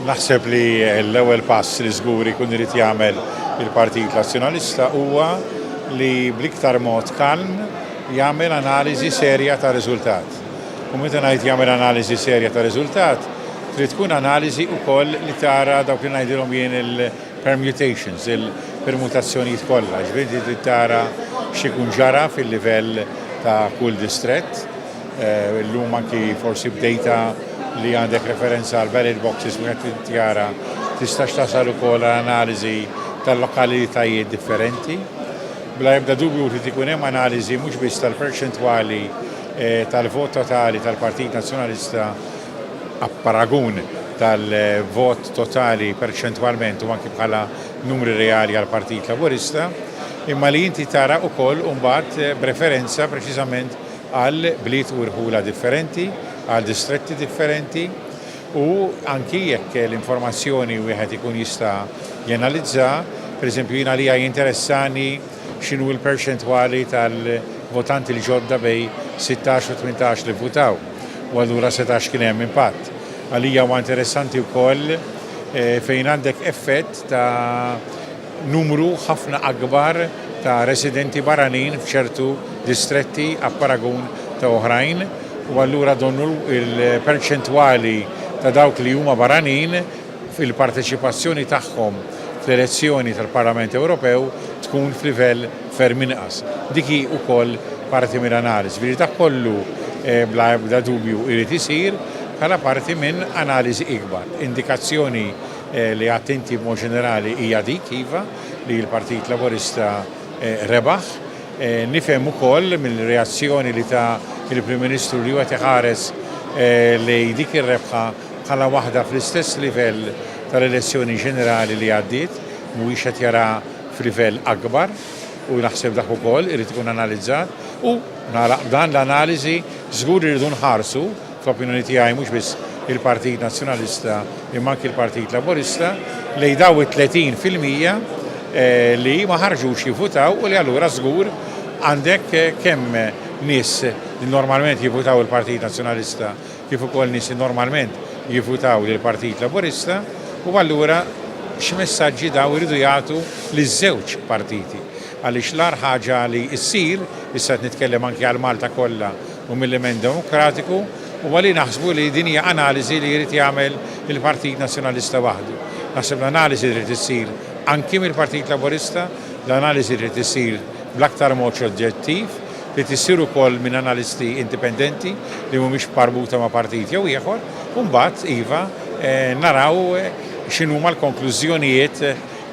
Naħseb li l-ewwel pass li żgur ikun irid jagħmel il-Partit Nazzjonalista huwa li bl-iktar mod kalm jagħmel analiżi serja ta' riżultat. U meta ngħid jagħmel analiżi serja ta' riżultat, trid tkun analiżi wkoll li tara dawk li ngħidilhom jien il-permutations, il-permutazzjonijiet kollha, ġifieri trid tara x'ikun ġara fil-livell ta' kull distrett Illum anki forsi b'dejta li għandek referenza għal ballot boxes meta tittjara tistax tasal ukoll għal analiżi tal-lokalitajiet differenti. Bla ebda dubju trid ikun hemm analiżi mhux biss tal-perċentwali eh, tal-vot totali tal-Partit Nazzjonalista apparagun tal-vot totali perċentwalment u anki bħala numri reali għal Partit Laburista, imma li inti tara wkoll imbagħad eh, b'referenza preċiżament għal bliet u rħula differenti, għal distretti differenti u anki jekk l-informazzjoni wieħed ikun jista' janalizza, pereżempju jien għalija jinteressani x'inhu l-perċentwali tal-votanti l-ġodda bejn sittax u tmintax li vvutaw u allura setax kien hemm impatt. Għalija huwa interessanti wkoll fejn għandek effett ta' numru ħafna akbar ta' residenti barranin f'ċertu distretti apparagun ta' oħrajn u allura donnu l-perċentwali ta' dawk li huma barranin fil-parteċipazzjoni tagħhom fl-elezzjoni tal-Parlament Ewropew tkun f'livell ferm inqas. Dik hi wkoll parti mill-analiżi. Jiġifieri dak kollu bla ebda dubju jrid isir bħala parti minn analiżi ikbar. Indikazzjoni Li għidt inti b'mod ġenerali hija dik, iva, li l-Partit Laburista rebaħ. Nifhem ukoll mill-reazzjoni li ta l-Prim Ministru li hu qed iħares lejn dik ir-rebħa bħala waħda fl-istess livell tal-elezzjoni ġenerali li għaddiet, mhuwiex qed jaraha f'livell akbar u naħseb dak ukoll irid ikun analizzat u nagħlaq b'dan l-analiżi żgur li rridu nħarsu fl-opinjoni tiegħi mhux biss il-Partit Nazzjonalista imma anki l-Partit Laburista, lejn dawn it-30 fil-mija li ma ħarġux jivvutaw u li allura żgur għandek kemm nies li normalment jivvutaw il-Partit Nazzjonalista kif ukoll nies li normalment jivvutaw lill-Partit Laburista u allura x'messaġġi dawn iridu jagħtu liż-żewġ partiti. Għaliex l-agħar ħaġa li ssir, issa qed nitkellem anki għal Malta kollha u mill-impenn demokratiku huwa li naħsbu li din hija analiżi li jrid jagħmel il-Partit Nazzjonalista waħdu. Naħseb l-analiżi trid issir anki mill-Partit Laburista, l-analiżi trid issir bl-aktar mod oġġettiv, trid issir ukoll minn analisti indipendenti li mhumiex marbuta ma' partit jew ieħor u mbagħad, iva, naraw x'inhuma l-konklużjonijiet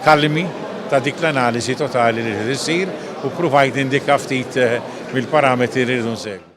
kalmi ta' dik l-analiżi totali li trid issir u ppruvajt nindika ftit mill-parametri li rridu nsegwu.